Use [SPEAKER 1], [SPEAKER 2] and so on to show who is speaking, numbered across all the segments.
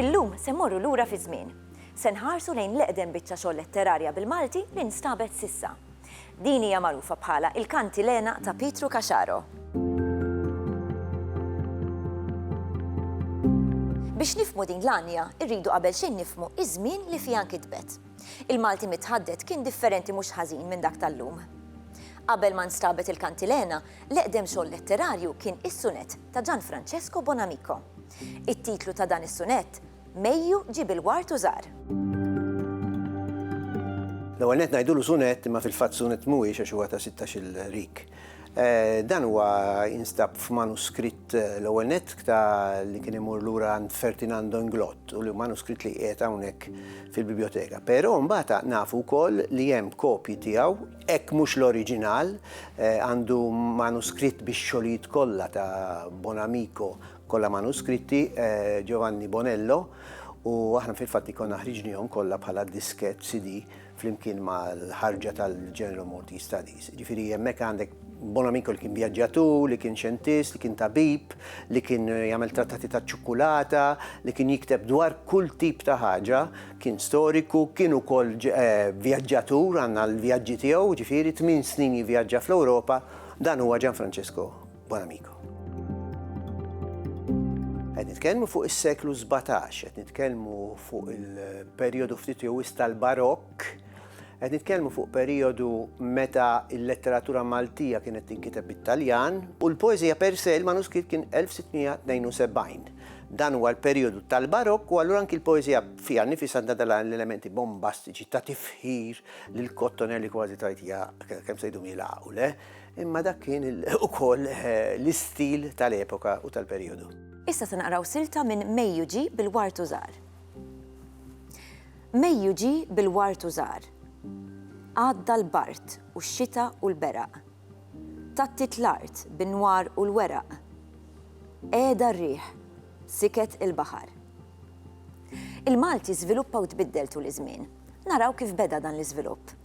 [SPEAKER 1] Illum se morru lura fi żmien. Se nħarsu lejn l-eqdem biċċa xogħol letterarja bil-Malti li nstabet sissa. Din hija magħrufa bħala il-Kantilena ta' Pietru Kaxaro. Biex nifmu din l-għanja, irridu qabel xejn nifmu iż-żmien li fiha nkitbet. Il-Malti mitħaddet kien differenti mhux ħażin minn dak tal-lum. Qabel ma nstabet il-kantilena, l-eqdem xogħol letterarju kien is-sunett ta' Gian Francesco Bonamico. It-titlu ta' dan is-sunett, Mejju ġib il-ward u żar.
[SPEAKER 2] L-ewwel nett ngħidulu sunett imma fil-fatt sunett mhuwiex għax huwa ta' sittax-il rik. Dan huwa jinstab f'manuskritt l-ewwel nett ta' li kien imur lura għand Ferdinand d'Inglot u li manuskritt li qiegħed hawnhekk fil-bibjoteka. Però mbagħad nafu wkoll li hemm kopji tiegħu, hekk mhux l-oriġinal, għandu manuskritt bix-xogħlijiet kollha ta' Bonamico kollha manuskritti, Giovanni Bonello, u aħna fil-fatt ikollna ħriġnihom kollha bħala diskett, CD, flimkien mal-ħarġa tal-General Maltese Studies. Ġifieri hemmhekk għandek Bonamico li kien vjaġġatur, li kien xjentist, li kien tabib, li kien jagħmel trattati taċ-ċukkulata, li kien jikteb dwar kull tip ta' ħaġa, kien storiku, kien ukoll eh, vjaġġatur għandna l-vjaġġi tiegħu, ġifieri tmien snin jivvjaġġa fl-Ewropa, dan huwa Gianfrancesco Buon amico. Qed nitkellmu fuq is-seklu 17, qed nitkellmu fuq il-perjodu ftit jew tal-barokk, qed nitkellmu fuq perjodu meta l-letteratura Maltija kienet tinkiteb bit-Taljan u l-poeżija per se il-manuskritt kien 1672. Dan huwa l-perjodu tal-barokk u allura anki l-poeżija fiha nifis għandha dal l-elementi bombastiċi ta' tifħir lil kottonelli kważi tajtija kemm se jdum jilgħaqu le. Imma dak kien ukoll l-istil tal-epoka u tal-perijodu. Issa se naqraw
[SPEAKER 1] silta minn Mejju ġie bil-wart u żar. Mejju ġie bil-wart u żar. Għadda l-bard u x-xita u l-beraq. Tgħattiet l-art bin-nwar u l-weraq. Qegħda r-riħ, siket il-baħar. Il-Malti żviluppa u tbiddel tul iż-żmien. Naraw kif beda dan l-iżvilupp.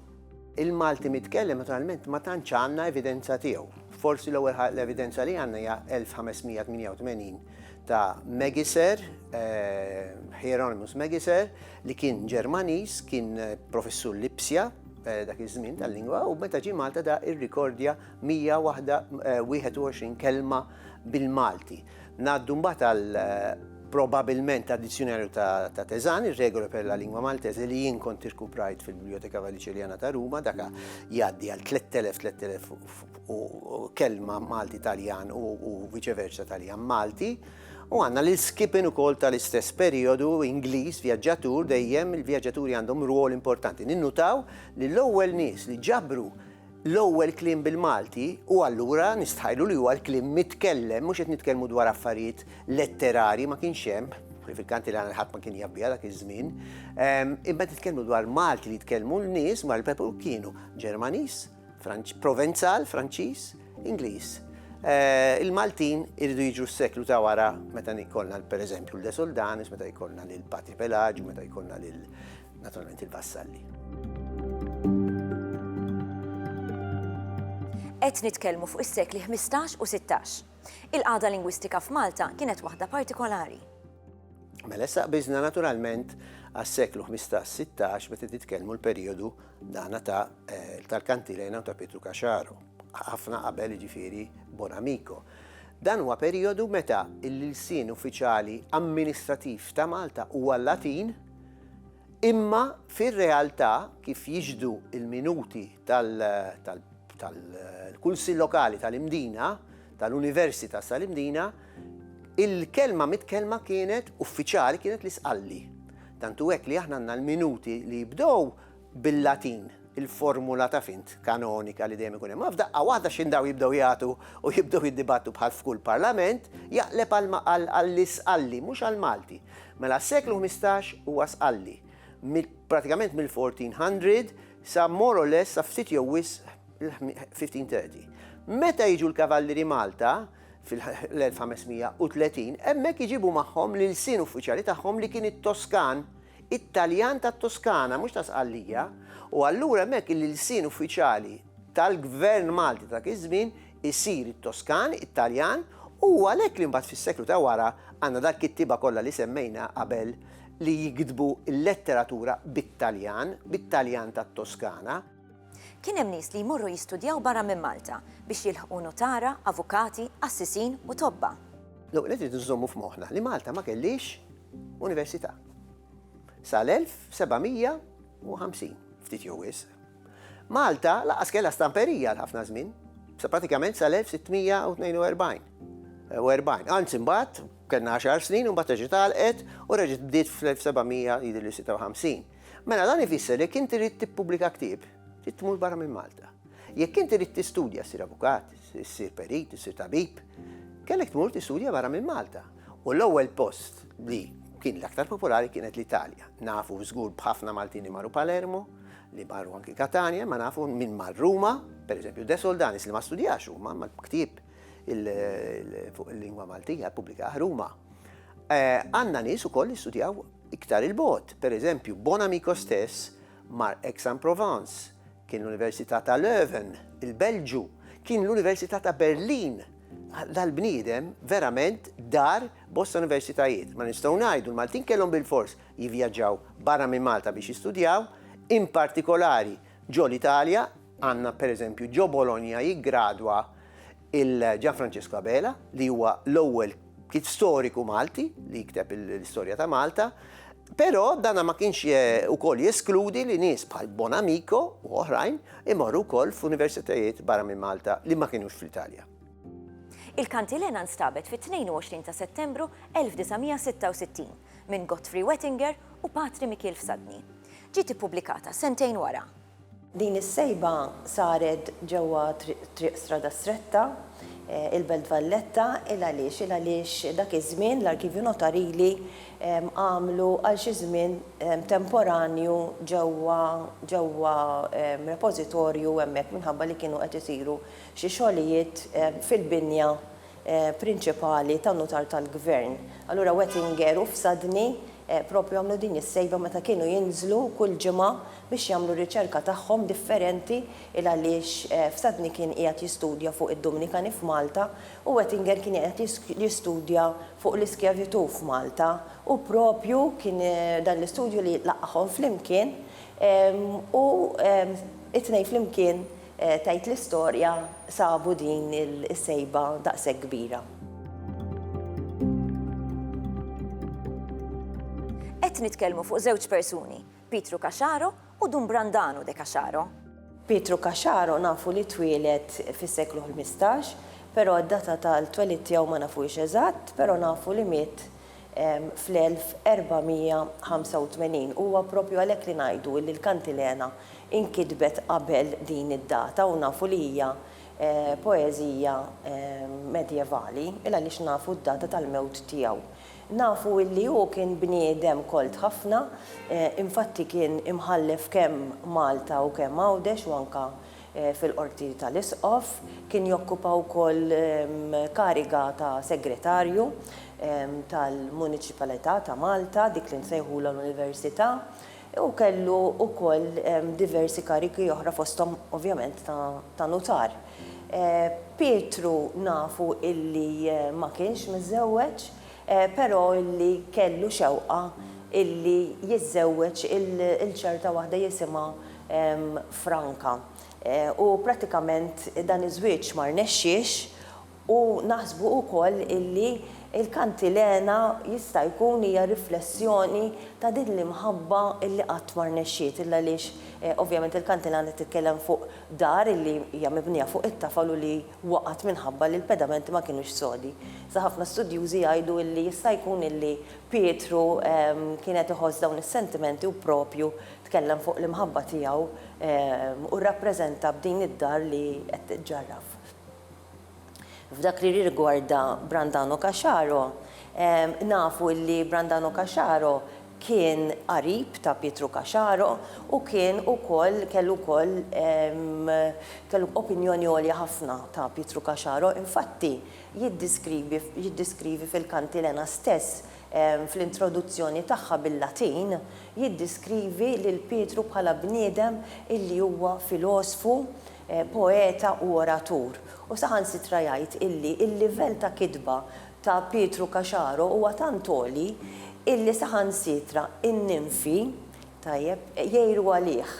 [SPEAKER 1] Il-Malti
[SPEAKER 2] mitkellem naturalment ma tantx għandna evidenza tiegħu. Forsi l-ewwel l-evidenza li għandna hija 1588 ta' Megiser, eh, Hieronymus Megiser, li kien Ġermaniż, kien eh, professur Lipsja, eh, dak iż-żmien tal-lingwa u meta ġie Malta da irrikordja 121 kelma bil-Malti. Ngħaddu mbagħad għal probabilment għad-Dizzjunarju ta' Teżan, ir-Regole per la Lingua Maltese li jien kont irkuprajt fil-Biblioteka Valiċiljana ta' Ruma, daka jgħaddi għal 3000-3000 kelma Malti Taljan u viċeversa Taljan Malti. U għandna lil Skippin ukoll tal-istess perjodu Ingliż vjaġġatur dejjem il-vjaġġaturi għandhom rwol importanti. Ninnutaw li l-ewwel nies li ġabru L-ewwel kliem bil-Malti u allura nistħajlu li huwa l-kliem mitkellem, mhux qed nitkellmu dwar affarijiet letterarji ma kienx hemm, kwalifikanti li ħadd ma kien jabbiha dak iż-żmien. Ehm, imma titkellmu dwar Malti li jitkellmu l-nies mar il-Pepu kienu Ġermaniż, Provenzal, Franċiż, Ingliż. Eh, Il-Maltin irridu jiġu s-seklu ta' wara meta jkollna per eżempju l-Desoldanis, meta jkollna l-Patri Pelaġu, meta jkollna l Naturalment il-vassalli.
[SPEAKER 1] Qed nitkellmu fuq is-sekli 15 u 16. Il-qagħda lingwistika f'Malta kienet waħda partikolari. Mela
[SPEAKER 2] issa biżna naturalment għas-seklu 15-16 meta titkellmu l-perjodu dana ta' eh, tal-kantilena u ta' Pietru Kaxaru, ħafna qabel ġifiri Bonamico. Dan huwa perjodu meta l-ilsien uffiċjali amministrativ ta' Malta huwa Latin Imma fir-realtà, kif jixhdu l-minuti tal-Kunsill Lokali tal-Imdina, tal-Universi ta' sal-Imdina, il-kelma mitkellma kienet, uffiċjali, kienet l-Isqalli. Tant hu hekk li aħna għandna l-minuti li jibdew bil-Latin, il-formula taf int, kanonika li dejjem ikun hemm. Imma f'daqqa waħda x'indaw jibdew jagħtu u jibdew jiddibattu bħal f'kull parlament, jaqleb għal għall-Isqalli, mhux għall-Malti. Mela s-seklu ħmistax huwa Sqalli. Pratikament mill-1400 sa more or less sa ftit jew wisq il-1530. Meta jiġu l-Kavallieri Malta, fil-1530, hemmhekk iġibu magħhom l-ilsien uffiċjali tagħhom li kien it-Toskan, It-Taljan tat-Toskana, mhux ta' Sqallija, u allura hemmhekk l-ilsien uffiċjali tal-Gvern Malti ta' dak iż-żmien isir it-Toskan, it-Taljan, u hu għalhekk li mbagħad fis-seklu ta' wara għandna dal-kittieba kollha li semmejna qabel li jiktbu l-letteratura bit-Taljan, bit-Taljan tat-Toskana. Kien hemm
[SPEAKER 1] nies li jmorru jistudjaw barra minn Malta biex jilħqu nutara, avukati, qassisin u tobba. L-ewwel nett irridu
[SPEAKER 2] nżommu f'moħħna li Malta ma kellhiex università sal-1750, ftit jew wisq. Malta lanqas kellha stamperija għal ħafna żmien, sa pratikament sal-1642 u 40. Anzi mbagħad kellna għaxar snin u mbagħad reġgħet għalqet u reġgħet bdiet fl-1756. Mela dan ifisser jekk inti rrid tippubblika ktieb, trid tmur barra minn Malta. Jekk inti rrid tistudja ssir avukat, ssir perit, ssir tabib, kellek tmur tistudja barra minn Malta. U l-ewwel post li kien l-aktar popolari kienet l-Italja. Nafu żgur b'ħafna Maltin li marru Palermo, li marru anki Katania, ma nafu minn mar Ruma, pereżempju De Soldanis li ma studjax Ruma, ma ktieb fuq il-lingwa Maltija ppubblikah Ruma. Eh, għandna nies ukoll li studjaw Iktar 'il bogħod, pereżempju, Bonamico stess mar Aix-en-Provence, kien l-Università ta' Leuven, il-Belġju, kien l-Università ta' Berlin. Dal-bniedem verament dar bosta universitajiet. Ma nistgħu ngħidu l-Maltin kellhom bilfors jivvjaġġaw barra minn Malta biex jistudjaw, in partikolari ġol-Italja, Għandna pereżempju ġo Bologna jiggradwa lil Gianfrancesco Abela li huwa l-ewwel kit storiku Malti li jikteb l-istorja ta' Malta, però dana ma kienx ukoll jeskludi li nies bħal Bonamico u oħrajn imorru wkoll f'universitajiet barra minn Malta li ma kienux fl-Italja.
[SPEAKER 1] Il-kantilena nstabet fit-22 ta' Settembru 1966 minn Godfrey Wettinger u Patri Mikiel Fsadni. Ġiet ippubblikata sentejn wara. Din is-sejba
[SPEAKER 3] saret ġewwa Triq Strada Stretta, il-Belt Valletta, il għaliex? Il għaliex dak iż-żmien l-Arkivju Notarili għamlu għal xi żmien temporanju ġewwa ġewwa repożitorju hemmhekk minħabba li kienu qed isiru xi xogħlijiet fil-binja prinċipali tan-Nutar tal-Gvern. Allura Wettinger u Fsadni proprju għamlu din is-sejba meta kienu jinżlu kull ġimgħa biex jagħmlu r-riċerka tagħhom differenti il għaliex Fsadni kien qiegħed jistudja fuq id-Dumnikani f'Malta u Wettinger kien qiegħed jistudja fuq l-iskjavitù f'Malta u proprju kien dan l-istudju li laqqagħhom flimkien u t-tnejn flimkien tgħid l-istorja, sabu din is-sejba daqshekk kbira.
[SPEAKER 1] Qed nitkellmu fuq żewġ persuni, Pietru Caxaro u Dun Brandanu de Caxaro. Pietru
[SPEAKER 3] Caxaro nafu li twieled fis-seklu ħmistax, però d-data tal-twelid tiegħu ma nafuhiex eżatt, però nafu li miet fl-1485. Huwa proprju għalhekk li ngħidu illi l-Kantilena inkitbet qabel din id-data u nafu li hija poeżija medjevali il-għaliex nafu d-data tal-mewt tiegħu. Nafu illi hu kien bniedem kolt ħafna, infatti kien imħallef kemm Malta u kemm Għawdex u anke fil-Qorti tal-Isqof, kien jokkupa wkoll kariga ta' Segretarju tal-Muniċipalità ta' Malta, dik li nsejħulha l-Università, u kellu wkoll diversi karigi oħra fosthom ovvjament ta' Nutar. Pietru nafu illi ma kienx miżżewweġ, però illi kellu xewqa illi jiżżewweġ lil ċerta waħda jisimha franka. U prattikament dan iż-żwieġ ma rnexxiex u naħsbu wkoll illi l-kantilena jista' jkun hija riflessjoni ta' din l-imħabba illi qatt ma rnexxiet illa għaliex ovvjament il-kantilena titkellem fuq dar illi hija mibnija fuq it-tafal u li waqgħet minħabba li l-pedamenti ma kinux sodi. Iżda ħafna studjużi jgħidu illi jista' jkun illi Pietru kien qed iħoss dawn is-sentimenti u proprju Tkellem fuq l-imħabba tiegħu u rrappreżenta b'din id-dar li qed tiġġarraf. F'dak li jirrigwarda Brandano Caxaro, nafu li Brandano Caxaro kien qarib ta' Pietru Caxaro u kien ukoll kellu wkoll kellu opinjoni għolja ħafna ta' Pietru Caxaro, infatti jiddiskrivi fil-Kantilena stess fl-introduzzjoni tagħha bil-Latin, jiddiskrivi lil Pietru bħala bniedem illi huwa filosfu, poeta u oratur, u saħansitra jgħid illi l-livell ta' kitba ta' Pietru Caxaro huwa tant għoli illi saħansitra n-ninfi, tajjeb, jgħiru għalih.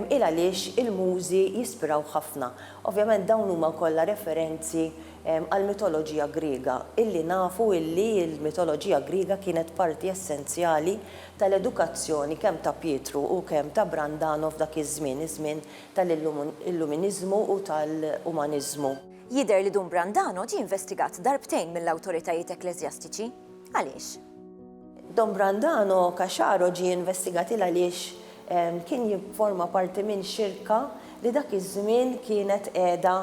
[SPEAKER 3] Il għaliex il-Mużi jispirawh ħafna. Ovvjament dawn huma kollha referenzi għall-mitoloġija Griega, illi nafu illi l-mitoloġija Griega kienet parti essenzjali tal-edukazzjoni kemm ta' Pietru u kemm ta' Brandano f'dak iż-żmien, iż-żmien tal-Illuminiżmu u tal-Umaniżmu. Jidher li Dun
[SPEAKER 1] Brandano ġie investigat darbtejn mill-awtoritajiet ekkleżjastiċi. Għaliex? Don
[SPEAKER 3] Brandano Caxaro ġie investigat il għaliex kien jifforma parti minn xirka li dak iż-żmien kienet qiegħda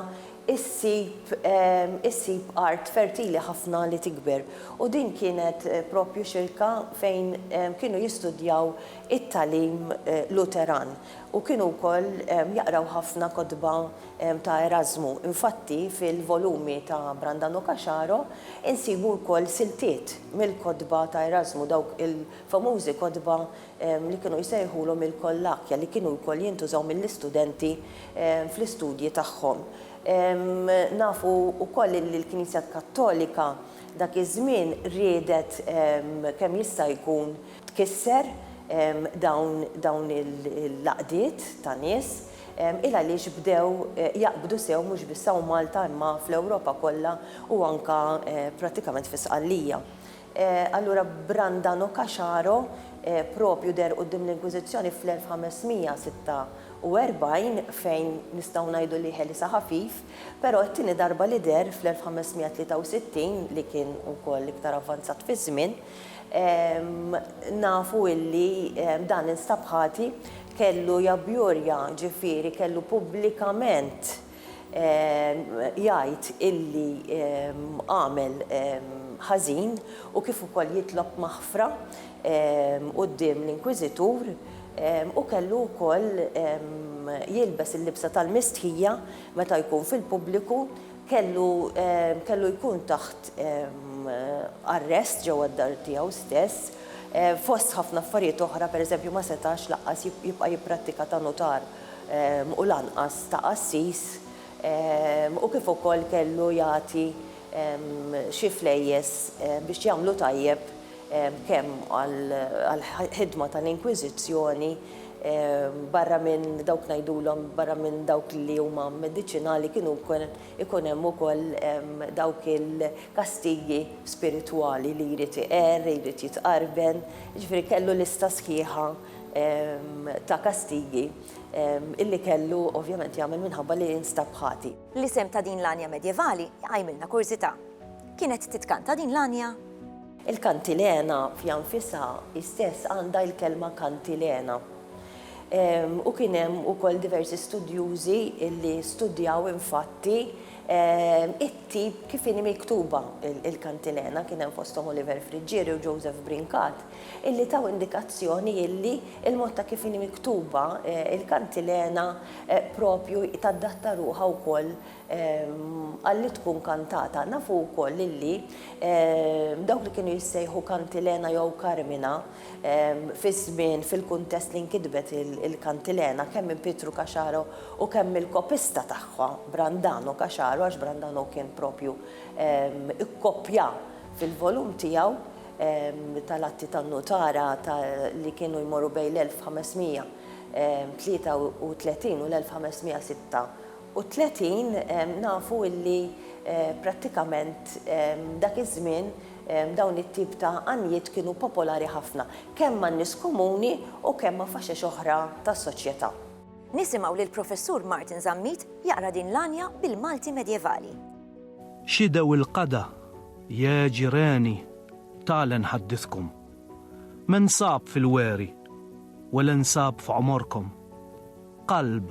[SPEAKER 3] ssib issib art fertili ħafna li tikber u din kienet propju xirka fejn kienu jistudjaw it-tagħlim Luteran. u kienu wkoll jaqraw ħafna kotba ta' Erażmu. Infatti, fil-volumi ta' Brandano Caxaro insibu wkoll siltiet mill-kotba ta' Erażmu, dawk il-famużi kotba li kienu jsejħulhom il-Kollakja, li kienu wkoll jintużaw mill-istudenti fl-istudji tagħhom. Nafu wkoll illi l-Knisja Kattolika dak iż-żmien riedet kemm jista' jkun, tkisser dawn il-għaqdiet ta' nies il għaliex bdew jaqbdu sew mhux biss hawn Malta imma fl-Ewropa kollha u anke prattikament fi Sqallija. Allura Brandano Caxaro proprju deher quddiem l-Inkwiżizzjoni fl-1546 fejn nistgħu ngħidu li ħelisha ħafif, però t-tieni darba li deher fl-1563 li kien ukoll iktar avvanzat fiż-żmien, Nafu illi dan instab ħati, kellu jabbjurja, ġifieri kellu pubblikament jgħid illi għamel ħażin u kif ukoll jitlob maħfra quddiem l-inkwiżitur u kellu wkoll jilbes il-libsa tal-mistħija meta jkun fil-pubbliku kellu kellu jkun taħt arrest ġewwa d-dar tiegħu stess. Fost ħafna affarijiet oħra, pereżempju ma setax laqqas jibqa' jipprattika ta' nutar u lanqas ta' qassis u kif ukoll kellu jagħti xi flejjes biex jagħmlu tajjeb kemm għall-ħidma tal-Inkwiżizzjoni Barra minn dawk ngħidulhom, barra minn dawk li huma mediċinali kienu wkoll ikun hemm ukoll dawk il-kastigi spiritwali li jrid iqerr, jrid jitqarben, jiġifieri kellu lista sħiħa ta' kastigi illi kellu ovvjament jagħmel minħabba li instab ħati. L-isem ta' din l-għanja
[SPEAKER 1] medjevali jqajmilna kurżità. Kienet titkanta din l-għanja? Il-kantilena
[SPEAKER 3] fiha nfisha hi stess għandha l-kelma kantilena. U kien hemm ukoll diversi studjużi li studjaw infatti it-tip kif inhi miktuba l-kantilena, kien hemm fosthom Oliver Friggieri u Joseph Brincat, illi taw indikazzjoni illi l-mod ta' kif inhi miktuba l-kantilena propju tadatta ruħha wkoll Qal li tkun kantata. Nafu wkoll lilli dawk li kienu jissejħu Kantilena jew Karmina fiż-żmien fil-kuntest li nkitbet il-Kantilena kemm minn Pietru Caxaro u kemm mill-kopista tagħha Brandano Caxaro għax Brandano kien propju ikkopja fil-volum tiegħu tal-atti tan-nutara ta' li kienu jmorru bejn l-1533 u l-1536. u tletin nafu illi prattikament dak iż-żmien dawn it-tip ta' għanjiet kienu popolari ħafna kemm man-nies komuni u kemm ma' faxex oħra tas-soċjetà. Nisimgħu
[SPEAKER 1] lill-Professur Martin Zammit jaqra din l-għanja bil-Malti medjevali. X'idhew
[SPEAKER 4] il-qada, jè ġireni, tale nħaddiskom. Me nsab fil-weri, wele nsab f'għomorkom. Qalb,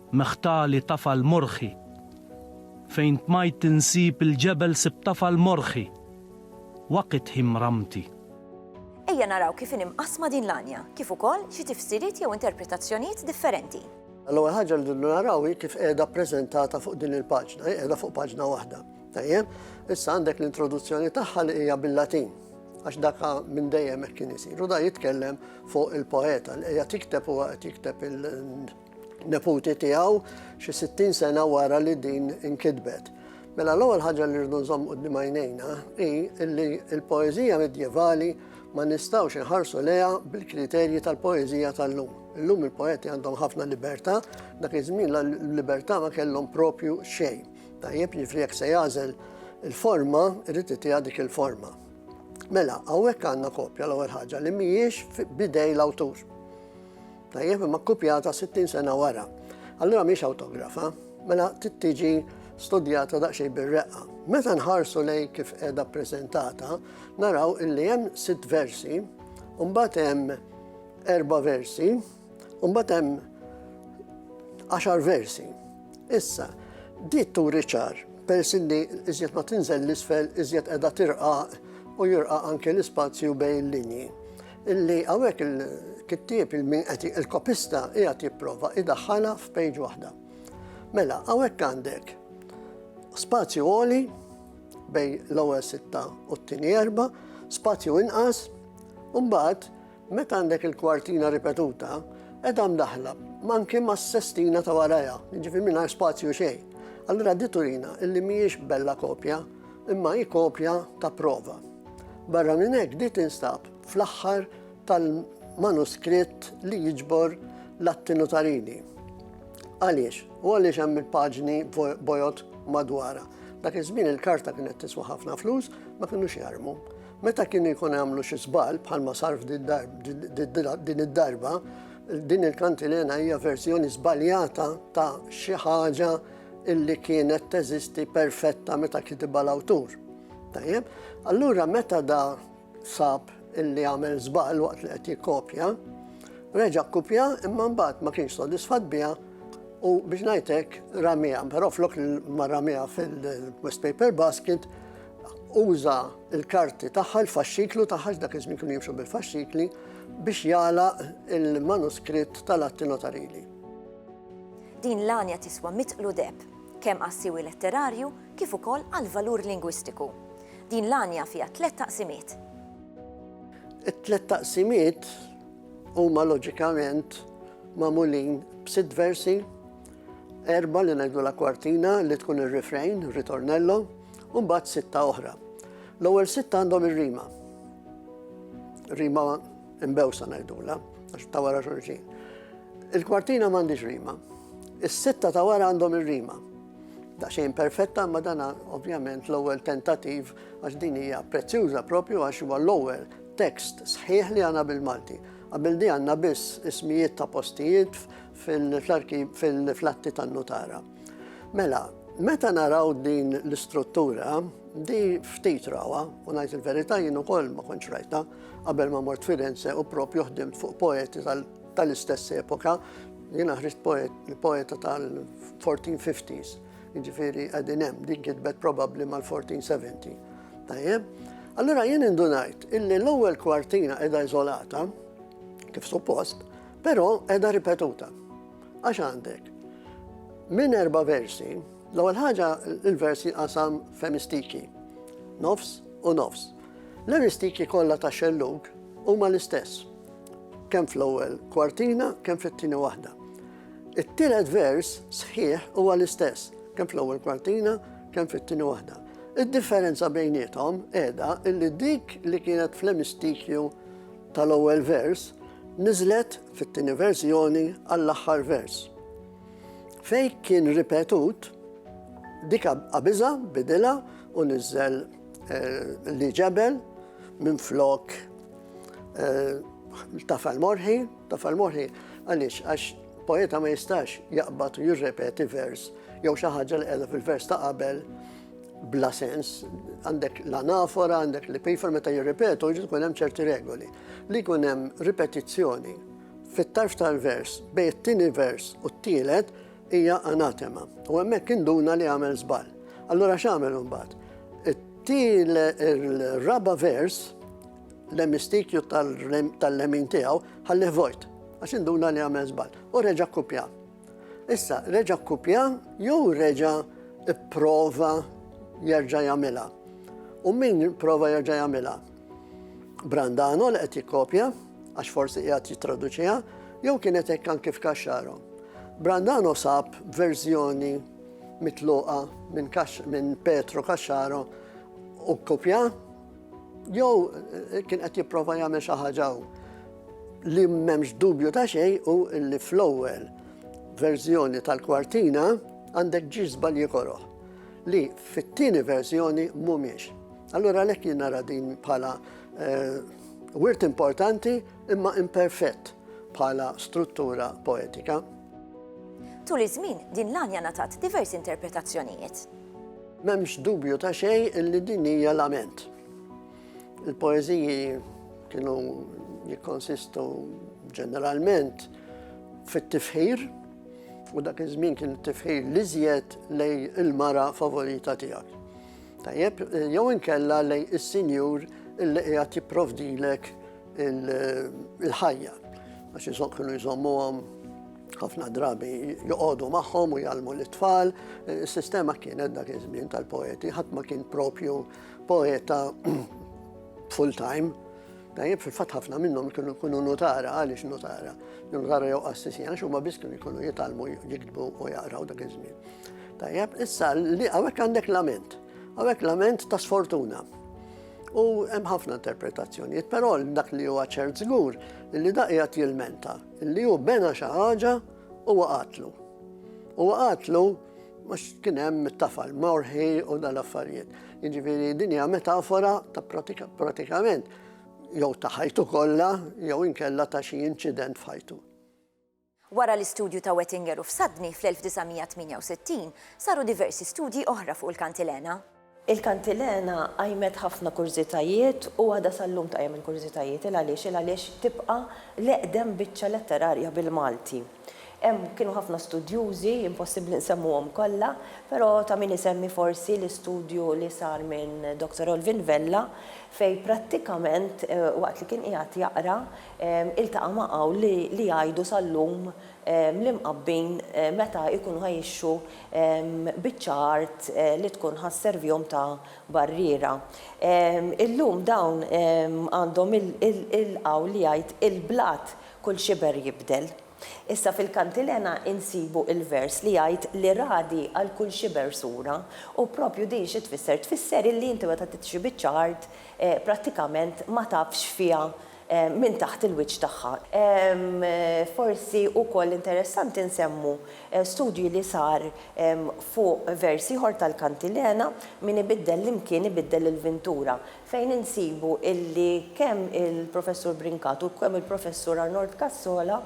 [SPEAKER 4] Meħtali tafal morħi. Fejn tmajt insib il-ġebel sibt tafal morħi. Waqit hi mramti. Ejja
[SPEAKER 1] naraw kif inhi mqassma din l-għanja, kif ukoll xi tifsiriet jew interpretazzjonijiet differenti. L-ewwel ħaġa li
[SPEAKER 5] rridu naraw hi kif qiegħda ppreżentata fuq din il-paġna, hi qiegħda fuq paġna waħda. Tajjeb, issa għandek l-introduzzjoni tagħha li hija bil-Latin għax daka minn dejjem hekk kien isir. U da jitkellem fuq il-poeta li qiegħed jikteb huwa qed jikteb il- neputi tiegħu xi 60 sena wara li din inkitbet. Mela l-ewwel ħaġa li rridu nżomm qudiem għajnejna hi li l-poeżija medjevali ma nistgħux inħarsu leha bil-kriterji tal-poeżija tal-lum. Illum il-poeti għandhom ħafna libertà, dak iż-żmien l-libertà ma kellhom propju xejn. Tajjeb jiġri jekk se jagħżel il-forma, irid itiha dik il-forma. Mela, hawnhekk għandna kopja l-ewwel ħaġa li mhijiex bidej l-awtur. Tajjeb, imma kkupjata 60 sena wara. Allura mhix awtografa, mela trid tiġi studjata daqsxejn bir-reqqa. Meta nħarsu lej kif qiegħda ppreżentata, naraw illi hemm sitt versi, u mbagħad hemm erba' versi, u mbagħad hemm għaxar versi. Issa, di turi ċar, peress li iżjed ma tinżel l-isfel, iżjed qiegħda tirqaq u jirqaq anke l-ispazju bejn linji. Illi hawnhekk il-kittieb il-min qed il-kopista qiegħed jipprova idaħħalha f'pejġ waħda. Mela, hawnhekk għandek spazju għoli bej l-ewwel sitta u t-tieni erba, spazju inqas, u mbagħad meta għandek il-kwartina ripetuta, edha mdaħla manki ma' sestina ta' waraja, ġifi minna spazju xejn. Allura di turina illi mhijiex bella kopja imma hi kopja ta' prova. Barra minn hekk di tinstab fl-aħħar tal-manuskritt li jiġbor l-atti notarili. Għaliex? U għaliex hemm il-paġni bojot madwara. Dak iż-żmien il-karta kienet tiswa ħafna flus, ma kienux jarmu. Meta kien ikun għamlu xi żball bħalma sarf din id-darba, din il-kantilena hija verżjoni żbaljata ta' xi ħaġa illi kienet teżisti perfetta meta kitibha l-awtur. Tajjeb, allura meta da sab illi għamel żball waqt li qed jikkopja, reġa' kopja imma mbagħad ma kienx sodisfat biha u biex ngħidlek ramija, però flok ma ramija fil-West Paper Basket uża il-karti tagħha l-faxxiklu tagħha dak iż-żmien kienu jimxu bil-faxxikli biex jala il-manuskritt tal-atti notarili.
[SPEAKER 1] Din l-għanja tiswa mitqlu deheb, kemm għas-siwi letterarju kif ukoll għall-valur lingwistiku. Din l-għanja fiha tliet taqsimiet.
[SPEAKER 5] It-tliet taqsimiet huma loġikament magħmulin b'sitt versi, erba' li ngħidulha kwartina li tkun ir-refrain, ritornello, u mbagħad sitta oħra. L-ewwel sitta għandhom ir-rima. Rima Imbewsa ngħidula, għax ta' wara xulxin. Il-kwartina m'għandix rima. Is-sitta ta' wara għandhom ir-rima. Daqsxejn perfetta ma dana ovvjament l-ewwel tentativ għax din hija prezzjuża propju għax huwa l-ewwel tekst sħiħ li għandna bil-Malti. Qabel di għandna biss ismijiet ta' postijiet fil-flarki fil-flatti tan-nutara. Mela, meta naraw din l-istruttura, di ftit rawa, u ngħid il-verità jien ukoll ma kontx rajta, Qabel ma mort Firenze u propju ħdimt fuq poeti tal-istess epoka, jiena ħriġt poeta tal-1450s, jiġifieri qegħdin hemm din kitbet probabbli mal-1470. Tajjeb? Allura jien indunajt illi l-ewwel kwartina qiegħda iżolata kif suppost, però qiegħda ripetuta. Għax għandek minn erba' versi, l-ewwel ħaġa il-versi qasam femistiki, nofs u nofs. L-aristiki kollha tax-xellug huma l-istess, kemm fl-ewwel kwartina kemm fit-tieni waħda. It-tielet vers sħiħ huwa l-istess, kemm fl-ewwel kwartina kemm fit-tieni waħda. Id-differenza bejniethom qiegħda illi dik li kienet fl-emistikju tal-ewwel vers niżlet fit-tieni verżjoni għall-aħħar vers. Fej kien ripetut, dika qabiża bidilha u niżel Li ġebel minn flok eh, tafal morħi, tafal morħi, għalix, għax poeta ma jistax jaqbad u jirrepeti vers, jew xi ħaġa li qiegħda fil-vers ta' qabel bla sens, għandek l-anafora, għandek li pifer meta jirripetu, ġid kun hemm ċerti regoli. Li kun hemm ripetizzjoni fit-tarf tal-vers bej it-tieni vers u t-tielet Hija anatema. U hemmhekk induna li għamel żball. Allura x'għamel imbagħad? Til il-raba vers l-emistikju tal-lemin tiegħu ħallih vojt għax induna li għamel żball u reġa' kkupja. Issa reġa' kkupja jew reġa' ipprova jerġa' jagħmilha. U min prova jerġa' jagħmilha? Brandano li qed jikkopja, għax forsi qiegħed jittraduċiha, jew kienet hekk anki f'Kaxxaro. Brandano sab verżjoni mitluqa minn min Petro Kaxxaro u kopja, jew eh, kien qed jipprova jagħmel xi ħaġa li m'hemmx dubju ta' xejn u li fl-ewwel verżjoni tal-kwartina għandek ġiż żbalji koroħ li fit-tieni verżjoni mhumiex. Allura għalhekk jien nara din bħala eh, wirt importanti imma imperfett bħala struttura poetika.
[SPEAKER 1] Tul iż-żmien din l-għanja natat diversi interpretazzjonijiet. M'hemmx
[SPEAKER 5] dubju ta' xejn illi din hija lament. Il-poeżiji kienu jikkonsistu ġeneralment fit-tifħir, u dak iż-żmien kien tifħir li żjed lej il-mara favorita tiegħek. Tajjeb, jew inkella lejn is-sinjur illi qiegħed jipprovdilek il-ħajja. Għax jisok kienu jżommuhom ħafna drabi joqogħdu magħhom u jgħalmu l-tfal. Is-sistema kienet dak iż-żmien tal-poeti, ħadd ma kien propju poeta full time. Tajjeb fil-fatt ħafna minnhom kienu jkunu notara, għaliex notara? Notara jew qassisin, għax huma biss kienu jkunu jitalmu jiktbu u jaqraw dak iż-żmien. Tajjeb, issa li hawnhekk għandek lament. Hawnhekk lament ta' sfortuna. U hemm ħafna interpretazzjonijiet, però dak li huwa ċert żgur li dak qiegħed jilmenta li hu bena xi ħaġa u waqatlu. U waqatlu Mux kien hemm it-tafal morħi u dal-affarijiet. Jiġifieri din hija metafora ta' pratikament jew ta' ħajtu kollha jew inkella ta' xi inċident f'ħajtu. Wara
[SPEAKER 1] l-istudju ta' Wettinger u Fsadni fl-1968, saru diversi studji oħra fuq il-kantilena. Il-kantilena
[SPEAKER 3] qajmet ħafna kurżitajiet u għadha sal-lum tqajjem il-kurżitajiet. Il għaliex? Il għaliex tibqa' l-eqdem biċċa letterarja bil-Malti. Hemm kienu ħafna studjużi, impossibbli nsemmuhom kollha, però ta' min isemmi forsi l-istudju li sar minn Doctor Olvin Vella fejn prattikament waqt li kien qiegħed jaqra iltaqa' ma' hawn li jgħidu sal-lum ml-imqabbin meta jkunu jgħixu biċċa art li tkun ħa sservihom ta' barriera. Illum dawn għandhom il-qawl li jgħid il-blat kull xiber jibdel. Issa fil-kantilena insibu il-vers li jgħid li ragħdi għal kull xiber sura u propju din xi tfisser? Tfisser illi inti meta titxi biċċa art prattikament ma tafx fiha minn taħt il-wiċċ tagħha. Forsi wkoll interessanti nsemmu studju li sar fuq vers ieħor tal-Kantilena, Min ibiddel l-imkien ibiddel il-vintura, fejn insibu illi kemm il-Professur Brincat u kemm il-Professur Arnold Cassola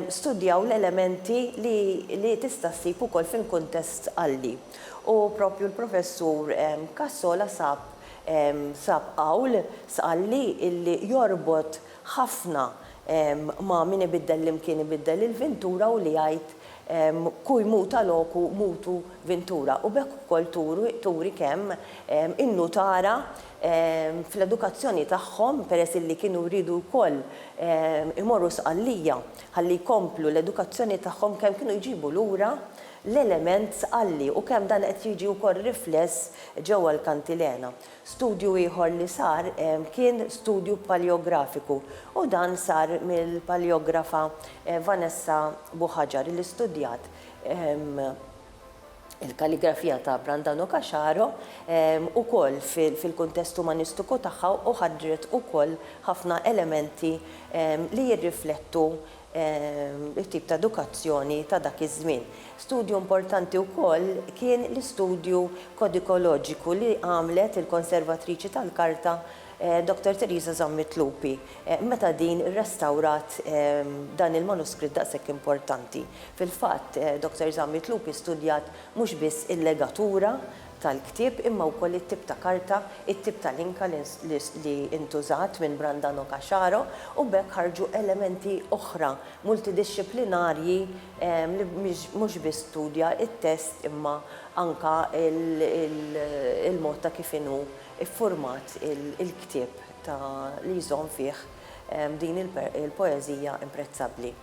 [SPEAKER 3] studjaw l-elementi li tista' ssib ukoll fil-kuntest Għalli. U proprju l-Professur Cassola sab Sab qawl, Sqalli, illi jorbot ħafna ma' min ibiddel l-imkien ibiddel il-vintura u li jgħid Cui muta locu mutu vintura u b'hekk ukoll turi kemm in-nutara fl-edukazzjoni tagħhom, peress illi kienu riedu wkoll imorru Sqallija ħalli jkomplu l-edukazzjoni tagħhom kemm kienu jġibu lura l-element sqalli u kemm dan qed jiġi wkoll rifless ġewwa l-kantilena. Studju ieħor li sar kien studju paleografiku u dan sar mill-paleografa Vanessa Buhagiar li studjat il-kalligrafija ta' Brandano Cacharo wkoll fil-kuntest umanistiku tagħha u ħadret ukoll ħafna elementi li jirriflettu it-tip ta' edukazzjoni ta' dak iż-żmien. Studju importanti wkoll kien l-istudju kodikoloġiku li għamlet il-konservatriċi tal-karta Dottor Teresa Zammit Lupi meta din irrestawrat dan il-manuskritt daqshekk importanti. Fil-fatt, Dottor Zammit Lupi studjat mhux biss il-legatura tal-ktieb imma wkoll it-tip ta' karta, it-tip ta' linka li ntużat minn Brandano Caxaro u b'hekk ħarġu elementi oħra multidixxiplinarji li mhux biss studja t-test imma anke l-mod ta' kif inhu ffurmat il-ktieb li jżomm fih din il-poeżija imprezzabbli.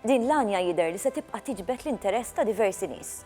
[SPEAKER 3] Din l-għanja
[SPEAKER 1] jidher li se tibqa' tiġbed l-interess ta' diversi nies.